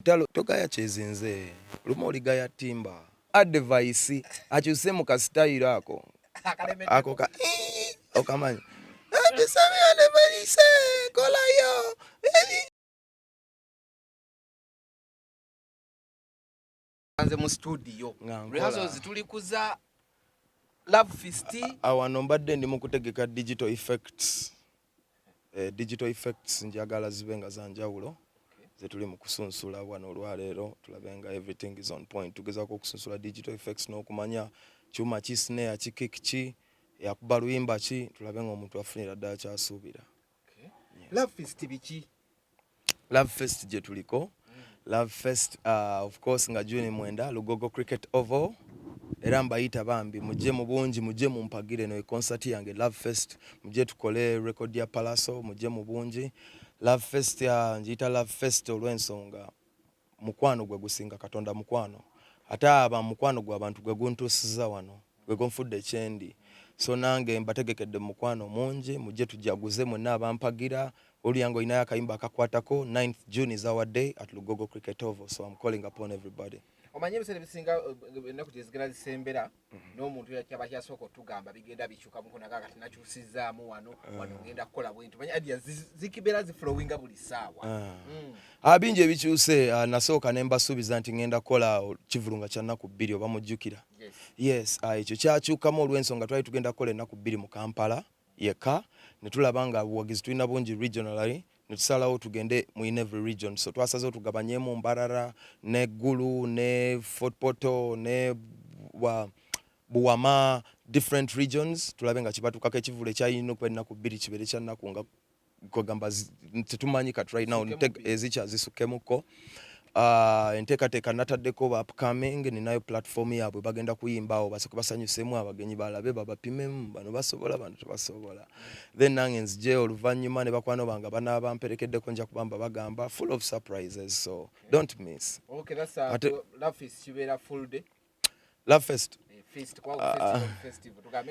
Lutalo togaya kyezinze lumu oligaya timba. Advice akyuse mu ka style ako ako ka okamanyi atusabye advice kolayo nze mu studio rehearsals tuli kuza love fist awano mbadde ndi mu kutegeka digital effects eh, digital effects njagala zibe nga zanjawulo zetuli mu kusunsula wano olwaleero tulabe nga everything is on point tugezaako okusunsula digital effects n'okumanya kyuma ki snare ki kick ki yakuba luyimba ki tulabe nga omuntu afunira ddala kyasuubira love fest gye tuliko love fest uh, of course nga juni mwenda lugogo cricket oval era mbayita bambi mujje mu bungi mujje mumpagire no concert yange love fest mujje tukole record ya palaso mujje mu bungi love fest ya njiyita love fest olw'ensonga mukwano gwe gusinga katonda mukwano ate aba mukwano gwa bantu gwe guntuusiza wano gwe gunfudde kyendi so nange mbategekedde mukwano mungi mujje tujaguze mwenna abampagira oluyange olinayo akayimba akakwatako 9th june is our day at lugogo cricket oval so am calling upon everybody omanyi ebiseera ebisinga eh, ennaku gyezigera zisembera Mm-hmm. n'omuntu yakyaba kyasooka otugamba bigenda bikyuka mukunaga kati nakyusizaamu wano ah. wano ngenda kukola bwintu manya adia zikibeera ziflowinga buli saawa ah. mm. ah, bingi ebikyuse nasooka ne mbasuubiza nti ngenda kukola kivulunga kya nnaku bbiri oba mujjukira yes ekyo kyakyukamu olw'ensonga twali tugenda kukola ennaku bbiri mu kampala yekka netulaba nga buwagizi tulina bungi regionally netusalawo tugende mu in every region so twasazewo tugabanyemu mbarara ne gulu ne fort portal ne wa, buwama different regions tulabe nga kibatukako ekivulu ekyayina okuba ennaku bbiri kibeere kyannaku nga kwegamba tetumanyi kati right now ezikya zisukemuko Uh, enteekateeka nataddeko ba upcoming ninayo platform yaabwe bagenda kuyimbaawo basooke basanyusemu abagenyi balabe babapimemu bano basobola bano tebasobola then nange nzije oluvannyuma ne bakwano bange banaaba mperekeddeko nja kubamba bagamba full of surprises so don't miss okay, that's, uh, Ate, love fest ah,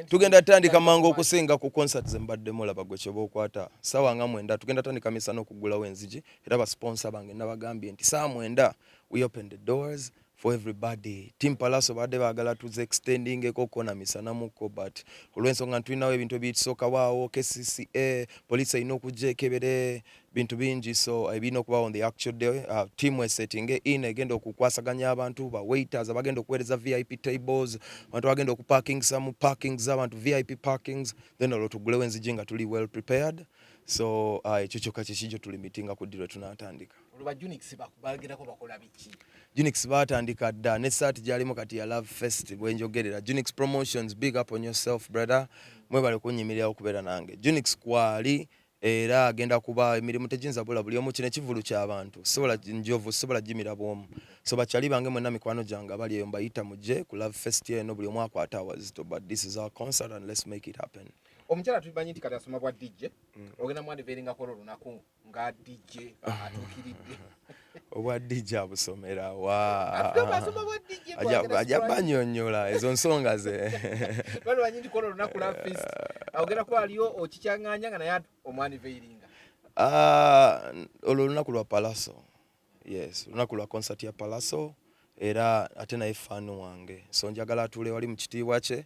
tugenda tandika mangu okusinga ku concert zembaddemu laba gwe kyoba okwata sawa nga mwenda tugenda tandika misa n'okuggulawo enzigi era basponsa bange nabagambye nti saa mwenda we open the doors for everybody team palaso baadde baagala tuze extendingeko kona misana mukko but olw'ensonga ntulinawo ebintu ebitusokawo awo kcca police erina okujja ekebere bintu bingi so ebirina eh, okuba on the actual day uh, team esettinge in egenda okukwasaganya abantu ba waiters abagenda okuweereza vip tables abantu abagenda okuparking some parking z'abantu vip parkings then olwo tugulewo enzigi nga tuli well prepared so uh, ekyo uh, kyokka kyekijjo tuli mitinga ku ddi lwe tunaatandika Junix baatandika dda ne saati gyalimu kati ya love fest bwenjogerera Junix promotions big up on yourself brother mwebale kunnyimirirawo okubeera nange Junix kwali era agenda kuba emirimu tegyinza bula buli omu kino ekivulu kyabantu sisobola njovu sisobola jimira bwomu so bakyali bange mwena mikwano gyange abali eyo mbayita mujje ku love fest eno buli omu akwata awazito but this is our concert and let's make it happen omukyala tumanyi nti kati asoma bwa dj mm. ogenda mwandiveringa kola olunaku nga dj atuukiridde obwa DJ abusomera wa ajja banyonyola ezo nsonga ze bano banyindi kono lunaku la fist awogera ko aliyo okikyanganya nga naye omwani veiringa ah, olwo lunaku lwa palaso yes lunaku lwa concert ya palaso era ate naye fan wange so njagala atuule wali mu kitiibwa kye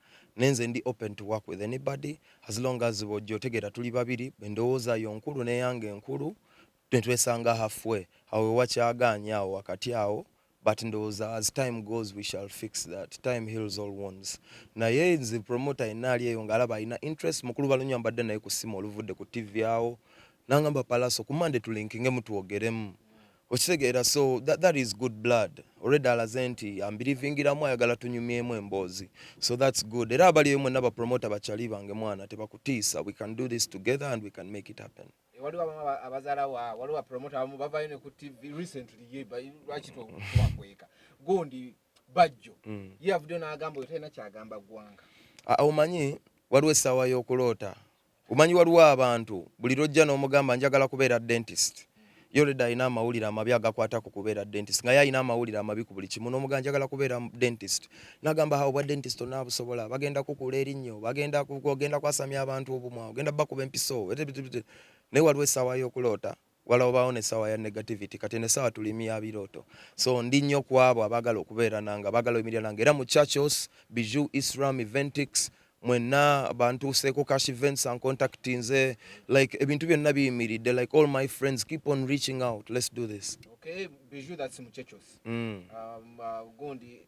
nenze ndi open to work with anybody as long as bojja otegeera tuli babiri endowooza yo nkulu neyange enkulu netwesanga halfway awo ewakyagaanya awo wakati awo but ndowooza as time goes we shall fix that time heals all wounds naye nze promoter yenna ali eyo ngaalaba alina interest mukulu balunywa mbadde naye ku ssimu oluvudde ku tv awo nangamba palaso ku mande tulinkingemu twogeremu okitegeera so that, that is good blood already alaze nti ambirivingiramu ayagala tunyumyemu emboozi so that's good era abaliyo mwena bapromota bakyali bange mwana tebakutiisa we can do this together and we can make it happen eh, waliwo abamu abazala wa waliwo bapromota abamu bavayo ne ku tv recently ye lwaki twakweka gundi bajjo mm. ye avuddeyo n'agamba oyo talina kyagamba ggwanga ah, omanyi waliwo essaawa y'okuloota Umanyi waliwo abantu buli lwojja n'omugamba njagala kubeera dentist yoreda alina amawulire amabi agakwata ku kubeera dentist nga ye alina amawulire amabi ku buli kimu n'omugamba njagala kubeera dentist nagamba ha obwa dentist onaabusobola bagenda kukuula erinnyo bagenda ogenda kwasamya abantu obumwa ogenda bakuba empiso naye waliwo essaawa y'okuloota wala obaawo ne sawa ya negativity kati ne sawa tulimi ya biroto so ndi nyo kwabo abagala okubeera nanga abagala oyimirira nanga era mu churches biju islam eventix mwenna bantuuseeko cash events and contact nze like ebintu byonna biyimiridde like all my friends keep on reaching out let's do this okay biju that's mu churches mm. um, uh, gundi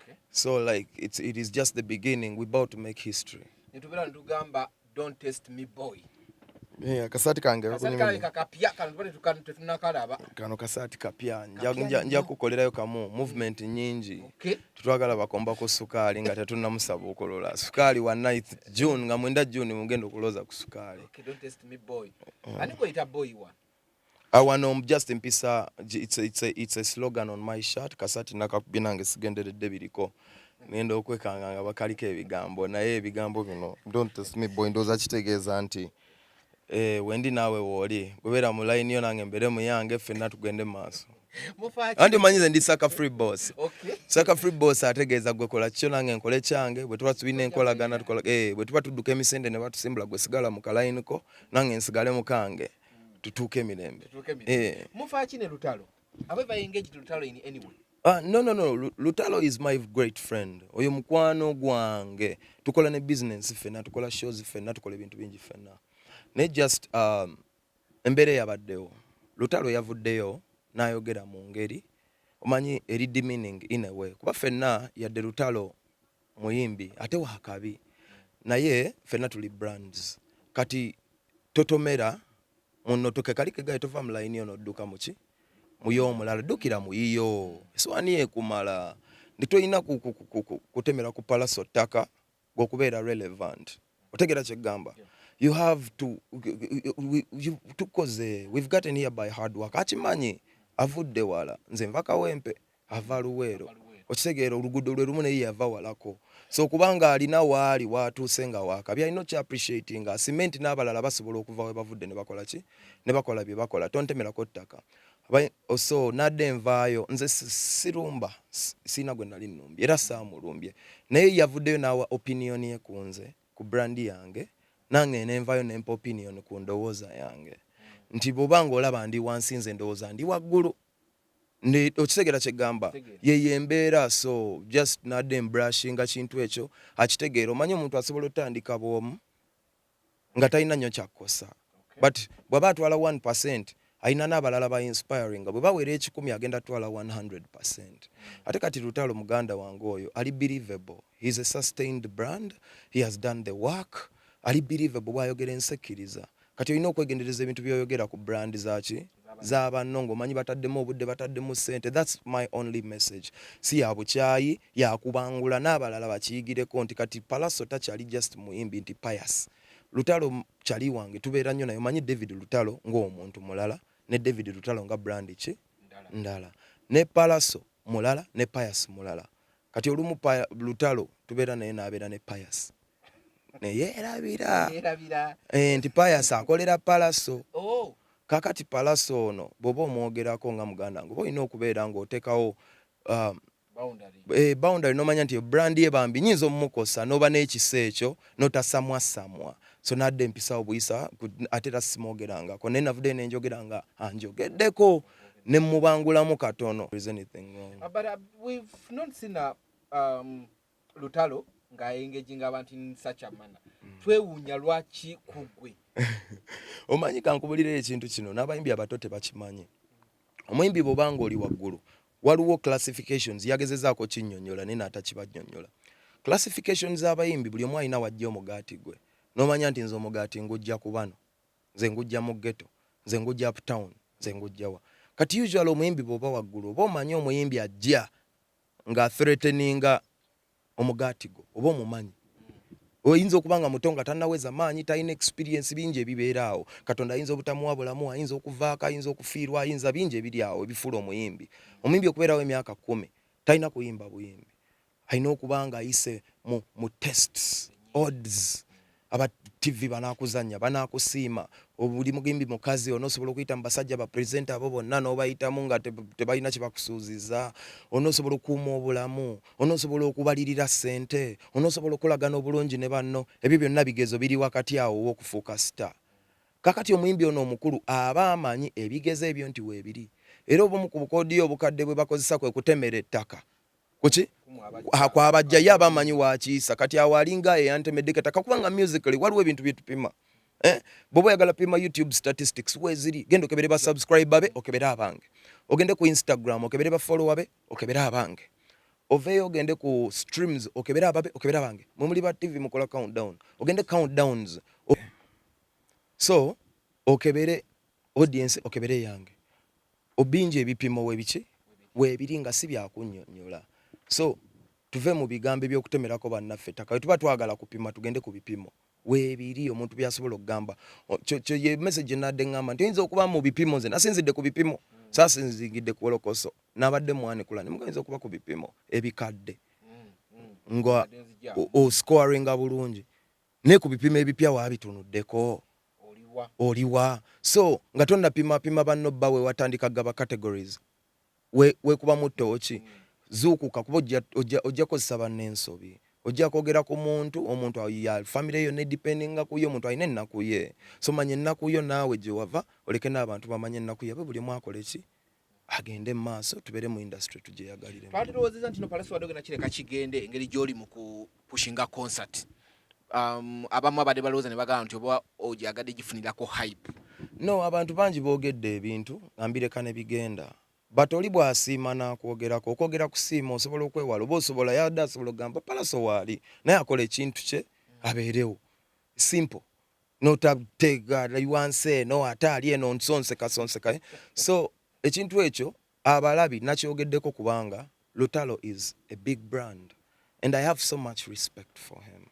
okay. so like it's, it is just the beginning we about to make history nitubera ntugamba don't test me boy Yeah, kasati kange kano kasati kapya nja kukolerayo kamu movement mm. nyingi okay. tutwagala bakomba ku sukaali nga tetunamusaba okolola sukaali wa 9 june nga mwenda june mugenda okuloza ku sukaali okay, don't test me boy. Uh. Ani boy wa? Ah, wano um, just mpisa it's a, it's a, it's a slogan on my shirt kasati nakakubye nange sigenderedde biriko ngenda okwekanga nga bakaliko ebigambo naye ebigambo bino don't test me boy ndoza kitegeeza nti eh, wendi naawe wooli webeera mu layini yo nange mbeere muyange ffenna tugende mu maaso anti omanyize ndi saka free boss saka free boss ategeeza gwe kola kikyo nange nkole kyange bwe tuba tulina enkolagana eh, bwe tuba tudduka emisende ne batusimbula gwe sigala mu kalayiniko nange nsigale mukange tutuuke emirembe eh. mufaaki ne lutalo abe bayengaged lutalo in any way Uh, no, no, no. Lutalo is my great friend. Oyo mukwano gwange. Tukola ne business fena, tukola shows fena, tukola ebintu bingi fena. Ne just um, embere yabaddewo. Lutalo yavuddeyo n'ayogera mu ngeri omanyi eri demeaning in a way kuba fenna yadde lutalo muyimbi ate wakabi naye fena tuli brands kati totomera muno toke kali kegaye tova mu line ono duka muki muyo omulala dukira muyiyo eswani ekumala nditoyina kutemera ku palaso taka gokubeera relevant otegera kyegamba yeah. you have to tukoze we've gotten here by hard work akimanyi avudde wala nze nva kawempe ava luweero okitegeera oluguudo lwe lumu naye yava walako so kubanga alina waali waatuuse nga waakabi alina okya appreciati nga asime nti n'abalala basobola okuva we bavudde ne bakola ki ne bakola bye bakola tontemerako ttaka oh, so nadde envaayo nze sirumba siina gwe nali nnumbye era saamulumbye naye yavuddeyo n'awa opinion ye ku nze ku brandi yange nange nenvayo nempa opinion ku ndowooza yange nti bwoba nga olaba ndi wansi nze ndowooza ndi waggulu okitegera kyegamba yeyo embeera so just nade embrashinga kintu ekyo akitegeera omanye omuntu asobola otandika bwomu nga talina nyo kyakkosa but bwaba atwala 1 percent alina n'abalala ba inspiring bwe bawera ekikumi agenda twala 100 percent ate kati lutalo muganda wange oyo ali believable he is a sustained brand he has done the work ali believable bwayogera ensekkiriza Kati olina okwegendereza ebintu byoyogera ku brand zaki za banno ng'omanyi bataddemu obudde bataddemu ssente thats my only message si ya bukyayi yakubangula n'abalala bakiyigireko nti kati palaso takyali just muyimbi nti pius lutalo kyali wange tubeera nnyo naye omanyi david lutalo ng'omuntu mulala ne david lutalo nga brand ki ndala ne palaso mulala ne pius mulala kati olumu lutalo tubeera naye n'abeera ne pius neyerabira eh, nti payas akolera palaso oh. kakati palaso ono bwoba omwogerako nga muganda nga oba olina okubeera ngaotekawo um, eh, boundary nomanya nti brand ye bambi nyinza omumukosa noba nekisa ekyo notasamwasamwa so nadde empisawo buyisa ate era simwogerangako naye navudde nenjogera nga anjogeddeko nemubangulamu katono lutalo nga engaging abantu in such a manner mm. twewuunya lwaki kugwe omanyi kankubulirira ekintu kino n'abayimbi abato tebakimanyi omuyimbi bwobanga oli waggulu waliwo classifications yagezezaako kinyonyola naye naatakibanyonyola classification z'abayimbi buli omu alina wajja omugaati gwe n'omanya nti nze omugaati ngujja ku bano nze ngujja mu ghetto nze ngujja uptown nze ngujjawa kati usual omuyimbi bw'oba waggulu oba omanyi omuyimbi ajja nga athreateninga omugaati gwo oba omumanyi oyinza okuba nga muto nga tanaweza maanyi talina experience bingi ebibeera awo katonda ayinza obutamuwa bulamu ayinza okuvaako ayinza okufiirwa ayinza bingi ebiri awo ebifuula omuyimbi omuyimbi okubeerawo emyaka kumi talina kuyimba buyimbi alina okuba nga ayise mu, mu tests odds aba TV banakuzanya banakusiima obuli mugimbi mukazi onosobola okuyita mu basajja ba presenter abo bonna n'obayitamu nga tebalina kye bakusuuziza onosobola okuuma obulamu onosobola okubalirira ssente onosobola okulagana obulungi ne banno ebyo byonna bigezo biri wakati awo ow'okufuuka star kakati omuyimbi ono omukulu aba amanyi ebigezo ebyo nti weebiri era obumu ku bukoodiyo obukadde bwe bakozesa kwe kutemera ettaka kuki kwabajja ye aba amanyi wakiisa kati awo alinga eyantemedde kataka kubanga musically waliwo ebintu byetupima eh? bwoba oyagala pima youtube statistics weziri genda okebere ba subscribe be okebere abange ogende ku instagram okebere ba follower be okebere abange oveeyo ogende ku streams okebere ababe okebere abange mwe muli ba tv mukola countdown ogende countdowns so okebere Audience okebere yange obingi ebipimo webiki webiri nga si byakunyonyola so tuve mu bigambo ebyokutemerako bannaffe ettaka wetuba twagala kupima tugende ku bipimo webiri omuntu byasobola okugamba kyo ye message enadde ngamba nti oyinza okuba mu bipimo nze nasinzidde ku bipimo sasinzingidde ku wolokoso nabadde mwanukula ne mugayinza okuba ku bipimo ebikadde nga oscoringa bulungi naye ku bipimo ebipya waabitunuddeko oliwa so nga tonnapima pima banno bba we watandika gaba categories weekubamu ttooki hmm. zuukuka kuba ojja kozesa banno ensobi ojja kwogera ku muntu omuntu ya famire yonna edipendinga kuyo omuntu alina ennaku ye so manya ennaku yo naawe gye wava oleke n'abantu bamanya ennaku yabwe buli omu akole ki agende mu maaso tubeere mu industry tugyeyagalire. Twali tulowoozezza nti no Pallaso Wadoge na kireka kigende engeri gy'oli mu ku pushinga concert um, abamu abadde balowooza ne bagamba nti oba ogyagadde gifunirako hype. No, abantu bangi boogedde ebintu nga mbireka ne bigenda but oli bw'asiima n'akwogerako okwogera kusiima osobola okwewala oba osobola yadde asobola okugamba Pallaso waali naye akola ekintu kye abeerewo simple notateega wansi eno ate ali eno nsonsekasonseka so ekintu ekyo abalabi nakyogeddeko kubanga lutalo is a big brand and i have so much respect for him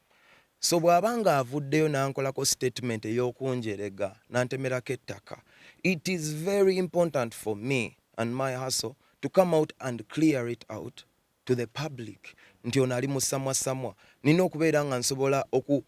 so bw'aba nga avuddeyo nankolako statement ey'okunjerega nantemerako ettaka it is very important for me and my hustle to come out and clear it out to the public nti ono ali musamwasamwa nina okubeera nga nsobola oku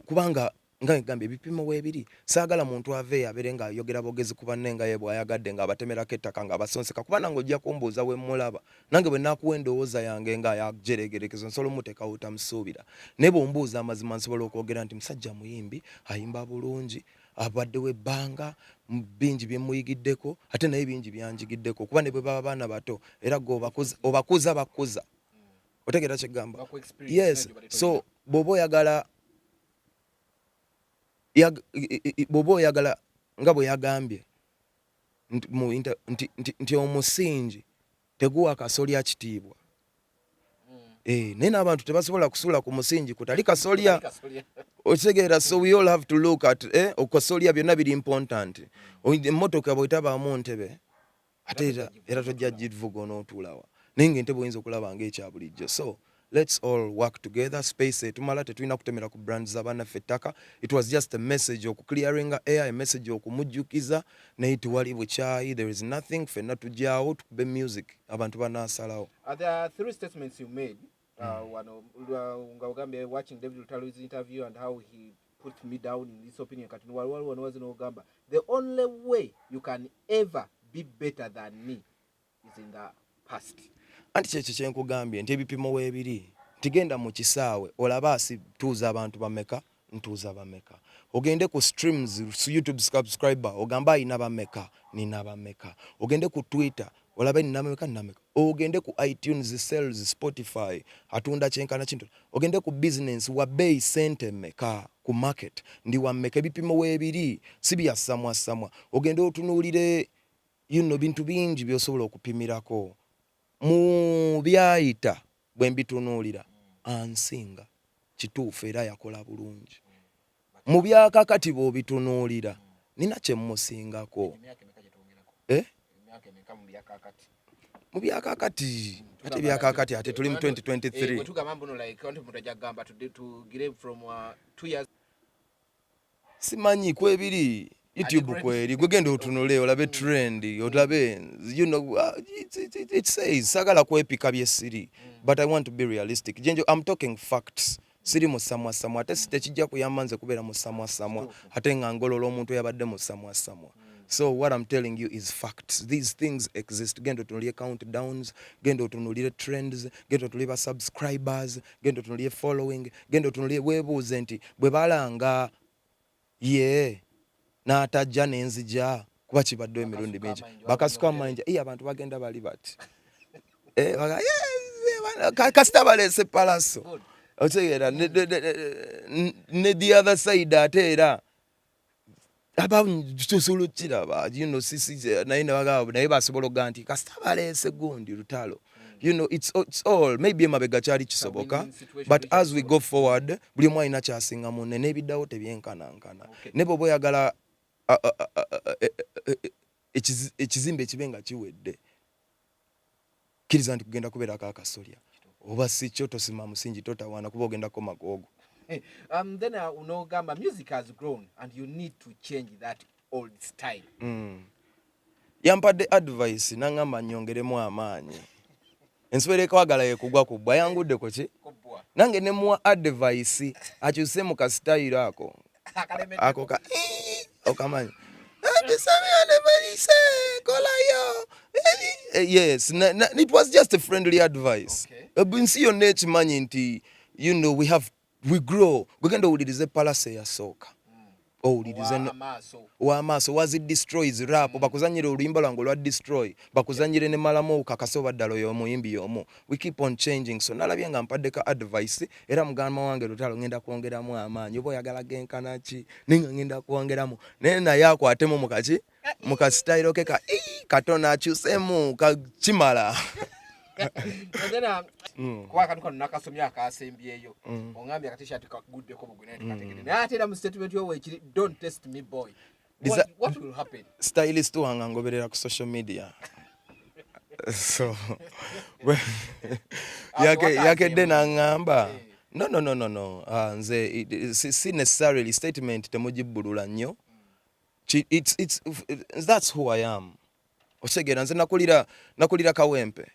kubanga nga egamba ebipimo webiri saagala muntu aveeyo abere nga ayogera bogezi ku banne nga ye bwayagadde nga abatemerako ettaka nga abasonseka kuba nange ojja kumbuuza we mulaba nange bwe nakuwa endowooza yange nga yajeregerekezo nsobola omutekawo tamusuubira naye bwombuuza amazima nsobola okwogera nti musajja muyimbi ayimba bulungi abaddewo ebbanga bingi byemuyigiddeko ate naye bingi byanjigiddeko kuba ne bwe baba baana bato era gwe obakuza bakuza otegeera kyegamba yes so bwoba oyagala bwoba oyagala nga bwe yagambye nti omusingi teguwa kasolya kitiibwa hmm. eh, naye n'abantu tebasobola kusula ku musingi kutali kasolya okitegeera so we all have to look at eh, okasolya byonna biri important emmotoka bwetabaamu ntebe ate era era tojja givuga onootuulawa naye nga entebe oyinza okulaba nga ekya bulijjo so let's all work together space etumala tetulina kutemera ku brand za banaffe ettaka it was just a message oku clearing air a message okumujjukiza naye tewali bukyayi there is nothing fenna tujyawo tukube music abantu banasalawo uh, there are three statements you made uh, mm. wano uh, nga ogambye watching david lutalu's interview and how he put me down in this opinion kati wali waliwo nowazi nogamba the only way you can ever be better than me is in the past anti kyekyo kyenkugambye nti ebipimo webiri ntigenda mu kisaawe olaba asituuza abantu bameka ntuuza bameka ogende ku streams su youtube subscriber ogamba ayina bameka nina bameka ogende ku twitter olabe nina bameka nina bameka ogende ku itunes sales spotify atunda kyenkana kintu ogende ku business wa bei sente meka ku market ndi wa meka ebipimo webiri si bya samwa samwa ogende otunuulire you know bintu bingi byosobola okupimirako mu byayita bwe mbitunuulira ansinga kituufu era yakola bulungi mu byakakati bw'obitunuulira nina kye mmusingako eh? mu byakakati ate byakakati ate tuli mu 2023 simanyi kwebiri youtube kweri gwe genda otunule olabe trend olabe you know uh, it, it, it, it says sagala kwepika byesiri but i want to be realistic jenjo i'm talking facts siri musamwasamwa ate tekijja kuyamba nze kubeera musamwasamwa ate nga ngolola omuntu yabadde musamwasamwa so what i'm telling you is facts these things exist genda otunulire countdowns genda otunulire trends genda otunulire basubscribers genda otunulire following genda otunulire webuuze nti bwe balanga ye n'atajja nenzija kuba kibaddewo emirundi mingi bakasuka amayinja iye abantu bagenda bali bati eh, kasita baleese palaso otegeera ne the other side ate era abasobola okukiraba you know sisi naye nebagaba naye basobola okuga nti kasita baleese gundi lutalo you know it's, it's all maybe emabega kyali kisoboka but as we go forward buli omu alina kyasinga munne n'ebiddawo tebyenkanankana okay. ne bwoba oyagala e, e, e, ekizimbe ekibe nga kiwedde kiriza nti kugenda kubera ka kasolya oba sikyo tosima musingi totawana kuba ogenda koma gogo eh, um, then uh, unogamba music has grown and you need to change that old style mm. yampadde advice nangamba nyongeremu amaanyi ensubera ekwagala yekugwa ku bwa yangudde kuki nange nemuwa advice akyuse mu kasitayiro ako ako ka okamanya eh, yes na, na, it was just a friendly advice okay. Eh, nsi yonna ekimanyi nti you know we have we grow gwegenda owulirize palase yasooka owulirize wamaaso wazi destroys rap mm. bakuzanyire oluyimba lwange olwa destroy bakuzanyire ne malamu okakase oba ddala oyo omuyimbi yomu we keep on changing so nalabye nga mpadde ka advice era mugamba wange lutalo ngenda kwongeramu amaanyi oba oyagala genkana ki naye nga ngenda kwongeramu naye naye akwatemu mukaki mukasitayiro ke ka katona akyusemu kakimala era mm. kuba akantu kano nakasomye akasembyeyo mm. ongambye akatishati kaguddeko bugwinaye mm. naye ate era mu statement yo weekiri don't test me boy What, what will happen? Stylist wange angoberera ku social media so yakedde nangamba eh. no no no no no uh, nze si necessarily statement temugibbulula nnyo it's, it's, that's who i am okitegera nze nakulira nakulira kawempe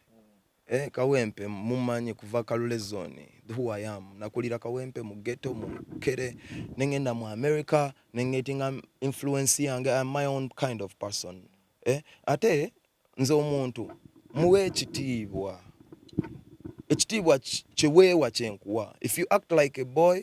eh, kawempe mumanyi kuva kalule zone who i am nakulira kawempe mu ghetto mu kere nengenda mu america nengetinga influence yange am my own kind of person eh, ate nze omuntu muwe ekitiibwa ekitiibwa kiweewa kyenkuwa if you act like a boy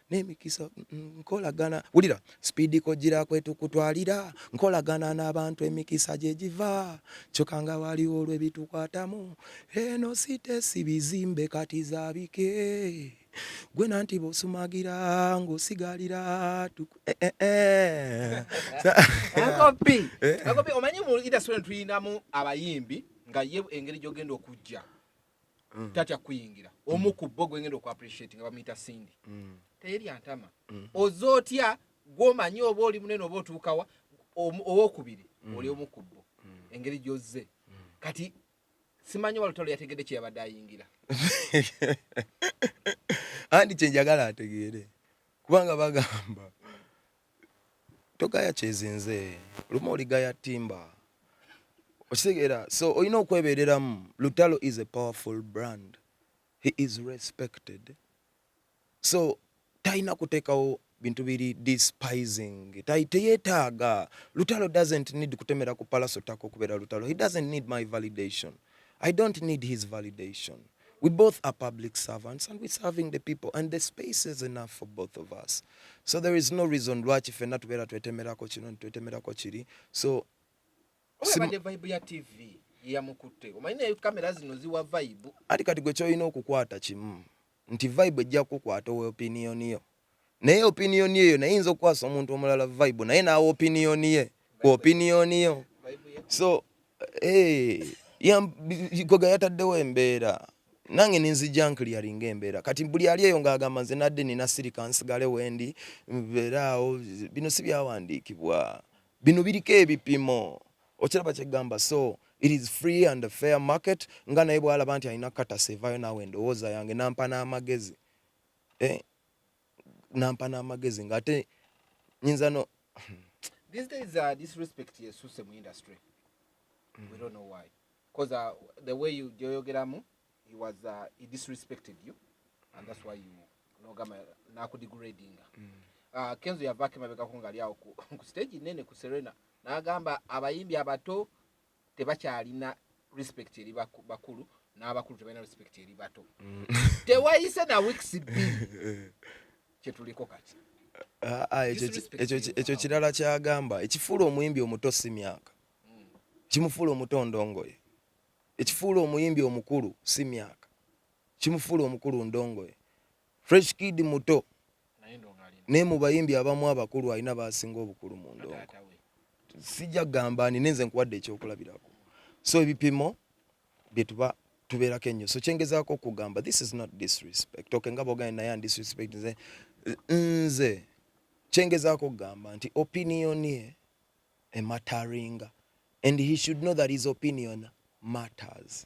n'emikisa mm, mm, nkolagana wulira sipiidi kojjira kwetukutwalira nkolagana n'abantu emikisa gye giva kyoka nga waliwo olwebitukwatamu eno sitesi bizimbe kati zabike gwe nanti bosumagira ngosigalira eh, eh, eh. omanyi mu indasitule tuyinamu abayimbi nga ye engeri gyogenda okujja mm. tatya kuyingira mm. omu ku bo gwengenda oku appreciate nga bamuyita sindi mm. teyeri antama mm. oza otya gwomanyi oba oli munene oba otuukawa owokubiri mm. oli omu ku bo mm. engeri gyozze mm. kati simanyi walutalo yategedde kyeyabadde ayingira andi kyenjagala ategeere kubanga bagamba togaya kyezinze lumu oligaya timba okitegeera so olina okwebereramu lutalo is a powerful brand he is respected so talina kuteekawo bintu biri despising teyetaaga lutalo doesn't need kutemera ku palaso taka okubeera lutalo he doesn't need my validation I don't need his validation. We both are public servants and we're serving the people and the space is enough for both of us. So there is no reason lwaki fenna tubeera twetemerako kino twetemerako kiri. So Sim... vibe ya TV yamukutte omanyi naye kamera zino ziwa vibe. Ati kati gwe kyolina okukwata kimu nti vibe ejja kukwata owe opinion yo. naye opinion eyo naye inza okukwasa omuntu omulala vibe naye nawe opinion ye ku opinion yo so hey, eh, yagoga yataddewo embeera nange ninzija nkliaringa embeera kati buli ali eyo ngaagamba nze nadde nina sirika nsigale wendi mbeeraawo bino si byawandiikibwa bino biriko ebipimo okiraba kyegamba so it is free and fair market nga naye bwalaba nti alina katasa evayo nawe endowooza yange nampa n'amagezi eh, nampa n'amagezi nga ate nyinza no these days uh, disrespect yesuse mu industry mm. we don't know why because uh, the way you joyogeramu he was uh, he disrespected you and that's why you nogama nakudegradinga mm. uh, kenzo yavako emabegako ngaali awo ku stage nene ku serena nagamba abayimbi abato tebakyalina respect eri bakulu n'abakulu tebalina respect eri bato mm. tewayise na weeks bbiri kyetuliko kati ah, ah, ekyo kirala kyagamba ekifuula omuyimbi omuto si myaka mm. kimufuula omuto ndongoye ekifuula omuyimbi omukulu si myaka kimufuula omukulu ndongoye Fresh Kid muto naye mu bayimbi abamu abakulu alina baasinga obukulu mu ndongo. Sijja kugamba ani nenze nkuwadde ekyokulabirako, so ebipimo bye tuba tubeerako ennyo. So kyengezaako okugamba this is not disrespect okay, nga boganye naye and disrespect nze nze kyengezaako okugamba nti opinion ye emataringa and he should know that his opinion matters.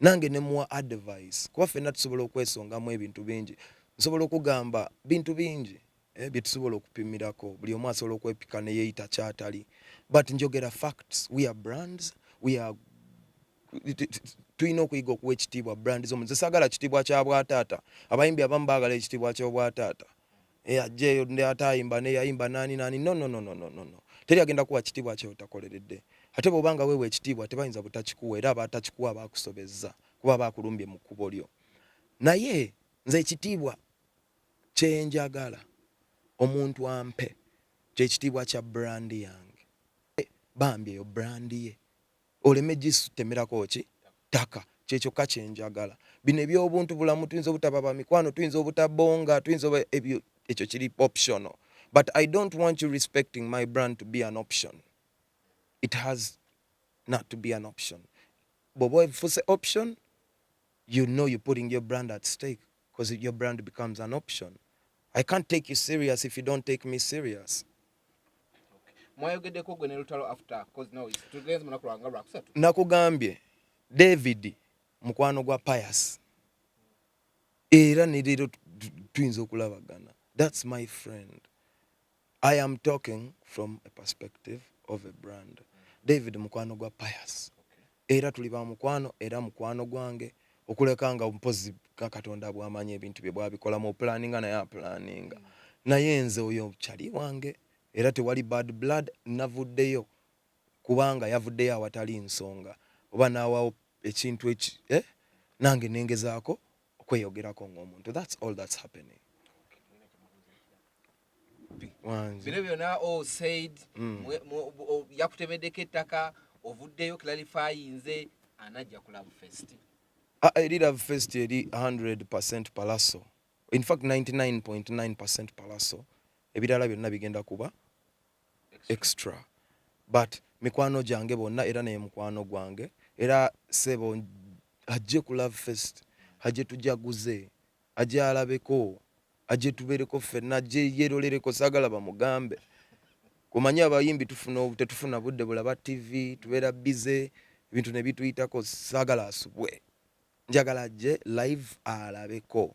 nange ne muwa advice kuba fenna tusobola okwesongamu ebintu bingi nsobola okugamba bintu bingi eh, byetusobola okupimirako buli omu asobola okwepika neyeyita kyatali but njogera facts we are brands we are tulina okuyiga okuwa ekitiibwa brand zo nze sagala kitiibwa kya bwataata abayimbi abamu baagala ekitiibwa ky'obwataata eyajja eyo ate ayimba neyayimba nani nani no, no, no, no, no, no. teri agenda kuwa kitiibwa kyeotakoleredde ate bwobanga weewa ekitiibwa tebayinza butakikuwa era abatakikuwa bakusobezza kuba bakulumbye mu kkubo lyo naye nze ekitiibwa kyenjagala omuntu ampe kyekitiibwa kya brandi yange bambi eyo brandi ye oleme gisutemerako ki ttaka kyekyokka kyenjagala bino ebyobuntu bulamu tuyinza obutaba bamikwano tuyinza obutabonga tuyinza ebyo ekyo kiri optional but i don't want you respecting my brand to be an option it has not to be an option bwoba efuse option you know you putting your brand at stake because your brand becomes an option i can't take you serious if you don't take me serious mwayogedeko gwe ne lutalo after cause now it's two days munaku lwanga lwakusatu nakugambye david mukwano gwa pius era ne leero tuyinza okulabagana that's my friend i am talking from a perspective of a brand david mukwano gwa pius Era tuli ba mukwano era mukwano gwange okuleka nga mpozi ka katonda bwamanyi ebintu bye bwabikola mu planinga naye aplaninga naye nze oyo chali wange era tewali bad blood navuddeyo kubanga yavuddeyo awatali nsonga oba nawawo ekintu eki eh? nange nengezaako okweyogerako ng'omuntu thats all thats happening bino byona o said mm. yakutemeddeko ettaka ovuddeyo clarifyinze anajja ku love fest ah, eri love fest eri 100 percent palaso infact 99.9 percent palaso ebirala byonna bigenda kuba extra but mikwano gyange bonna era naye mukwano gwange era sebo ajje ku love fest ajje tujaguze ajje alabeko ajje tubereko ffenna ajje yerolereko sagala bamugambe kumanya abayimbi tufuna tetufuna budde bulaba tv tubeera bize ebintu ne bituyitako sagala asubwe njagala ajje live alabeko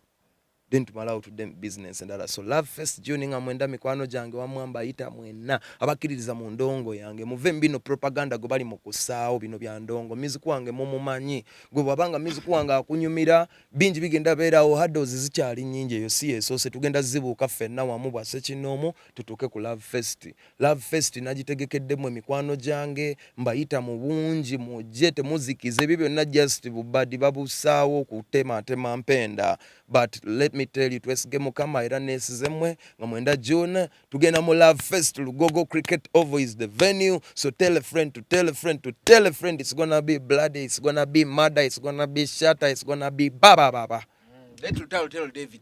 then tumala out them business endala so love first juni nga mwenda mikwano gyange wamwamba ayita mwenna abakkiririza mu ndongo yange muve mubino propaganda gwe bali mu kusaawo bino bya ndongo miziku wange mumumanyi gwe bwabanga miziku wange akunyumira bingi bigenda beerawo hados zikyali nyingi eyo si yesoose tugenda zibuuka ffenna wamu bwasekinoomu tutuuke ku love fest Love Fest nagitegekeddemu emikwano gyange mbayita mu bungi mujje temuzikiza ebyo byonna just bubadi babusaawo kutematema mpenda but let me tell you twesige mukama era nesize mwe nga mwenda June tugenda mu Love Fest Lugogo Cricket Oval is the venue so tell a friend to tell a friend to tell a friend it's gonna be bloody it's gonna be murder it's gonna be shatter it's gonna be baba baba mm. let you tell, tell David